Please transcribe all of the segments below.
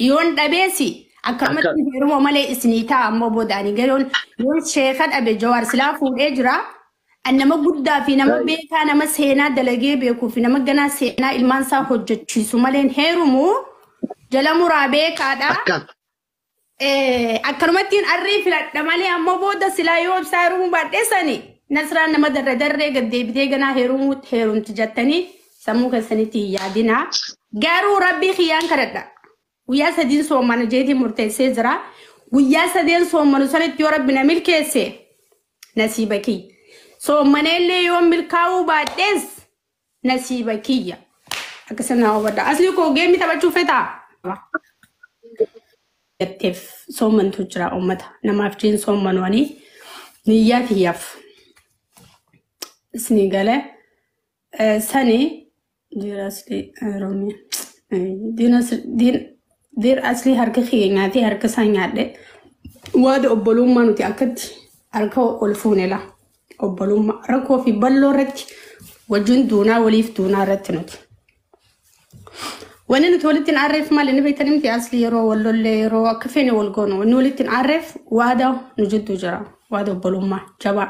Yoon dhabeesi akkanumatti Akka- heerumoo malee isinii ta'a ammoo booda ani garuu yoon sheeka dhabe jawaar silaa fuudhee jira. An nama guddaa fi nama Right. beekaa nama seenaa dalagee beekuu fi nama ganaa seenaa ilmaan isaa hojjechiisu malee hin heerumu jala muraa beekaadha. Akka. Akkanumattiin arrii filadha malee ammoo booda silaa yoo ibsaa heerumuu baadhee sani nasraan nama darra darree gad deebitee ganaa heerumuutti heerumti jattanii sammuu keessanitti hin yaadina. Garuu rabbii kiyyaan kadhadha. Guyyaa sadiin soomana jeetiin murteessee jira. Guyyaa sadeen soomanu sanitti yoo rabbi na milkeesse nasiiba kiyya. Soomaneellee yoo milkaa'uu baadhees Nasiiba kiyya. Akkasa naa hubadha. Asli koo geemmi taphachuu fetaa? Jetteef soommantu jira uummata. Namaaf jeen soommanuu ani niyyaa tiyyaaf isinii gale. Eh, Sani diir asli roomii. Diin asli diin diir asli harka kiyya nyaatee harka isaa nyaadhe. Waada obbolummaa nuti akkatti harka ol fuunela. Obbolummaa rakkoo fi balloo irratti wajjin duunaa waliif duunaa irratti nuti. Wanni nuti walittiin aarreef maali ni beektan miti asli yeroo wal lollee yeroo akka feene wal goonu wanni walittiin aarreef waada nu jidduu jira waada obbolummaa jabaa.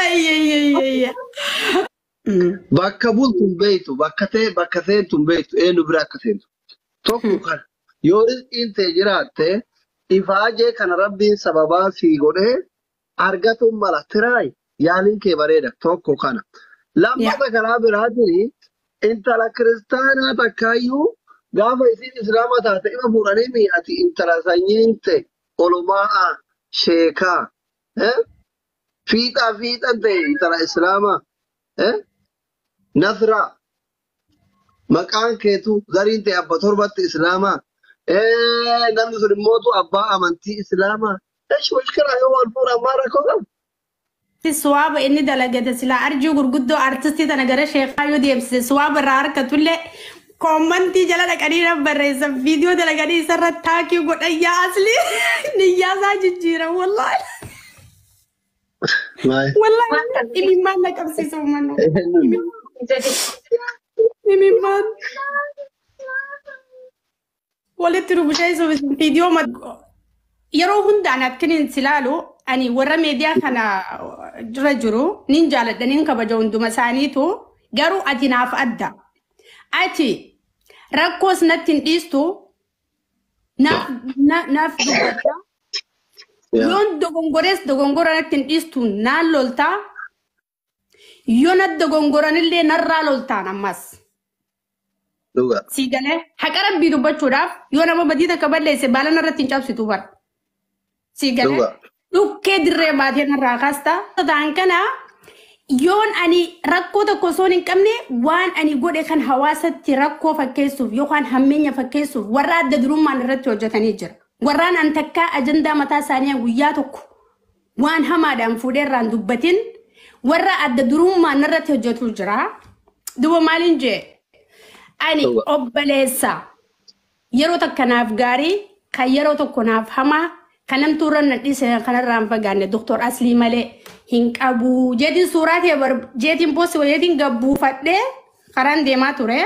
Ayyayyayya. Bakka bultu hin beektu, bakka tee bakka seentu hin beektu, eenyu bira akka seentu. Tokko kan yoo rizqiin tee jiraatte ifaajee kana rabbiin sababaa sii godhee argatuun mala tiraay yaaliin kee bareeda tokko kana. Lammata karaa biraatiin intala kiristaanaa takkaayyuu gaafa isiin islaama taate ima fuudhanii mi'ati intala sanyiin tee olumaa'aa sheekaa eh, fiixaa fiixan ta'e intala islaamaa eh, nasraa maqaan keetu gariin ta'e abba torbatti islaamaa eh, namni sun immootu abbaa amantii islaamaa esh mushkilaa yoo wal fuudhan maa rakkoo qabu Suwaaba inni dalagate silaa arjuu gurguddoo artistii tana gara sheekaa yoo deemsise suwaaba irraa harkatullee Commentii jala dhaqanii nan barreessa video dalaganii isarra taakii godhan yaa asli niyyaa isaa jijjiiran wallahi Maal? wallahi imimmaan na qabsiisa uummanni Eenyuun? imimmaan walitti nu busheessuuf isin viidiyoo mat yeroo hundaan akkin isin ilaalu ani warra meediyaa kana dura jiru nin jaaladha nin kabaja hunduma isaaniitu garuu ati naaf adda ati rakkoos natti hin dhiistu naaf na- naaf dubbatta yoon dogongorees dogongora natti hin dhiistu naan lolta Yoon adda gongoranillee narraa loltaan ammas. Dhuga. Sii galee haqa rabbii dubbachuudhaaf yoo nama badii takka balleesse baalana irratti hin cabsitu bar. Sii galee Dhuga. dhukkee dirree baatee narraa kaastaa. Ta'an kana yoon ani rakkoo tokko osoo hin qabne waan ani godhe kan hawaasatti rakkoo fakkeessuuf yookaan hammeenya fakkeessuuf warra adda durummaan irratti hojjetanii jira. Warraan an takkaa ajandaa mataa isaanii guyyaa tokko waan hamaadhaan fuudhee irraa hin dubbatin warra adda durummaan narratti hojjetu jira. Duuba maaliin jee ani Dhuga. obboleessa yeroo takka naaf gaarii kan yeroo tokko naaf hamaa kan namtuu irra na dhiise kanarraa hin fagaanne doktor aslii malee hin qabu jeetiin suuraa kee bar jeetiin poostii jeetiin gabbuufadhee karaan deemaa ture.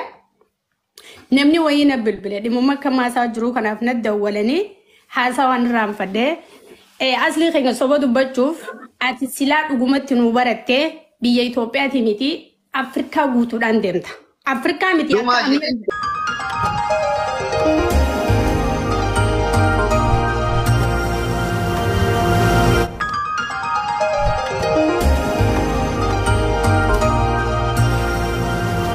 Namni wayii na bilbile dhimuma akka maasaa jiruu kanaaf na dawwalanii haasaa waan irraan fadhee Eh, aslii keenya soba dubbachuuf ati silaa dhugumatti nuu barattee biyya Itoophiyaatii miti Afrikaa guutuudhaan deemta. Afrikaa miti akka Dhumaa Ameerikaa. jedhee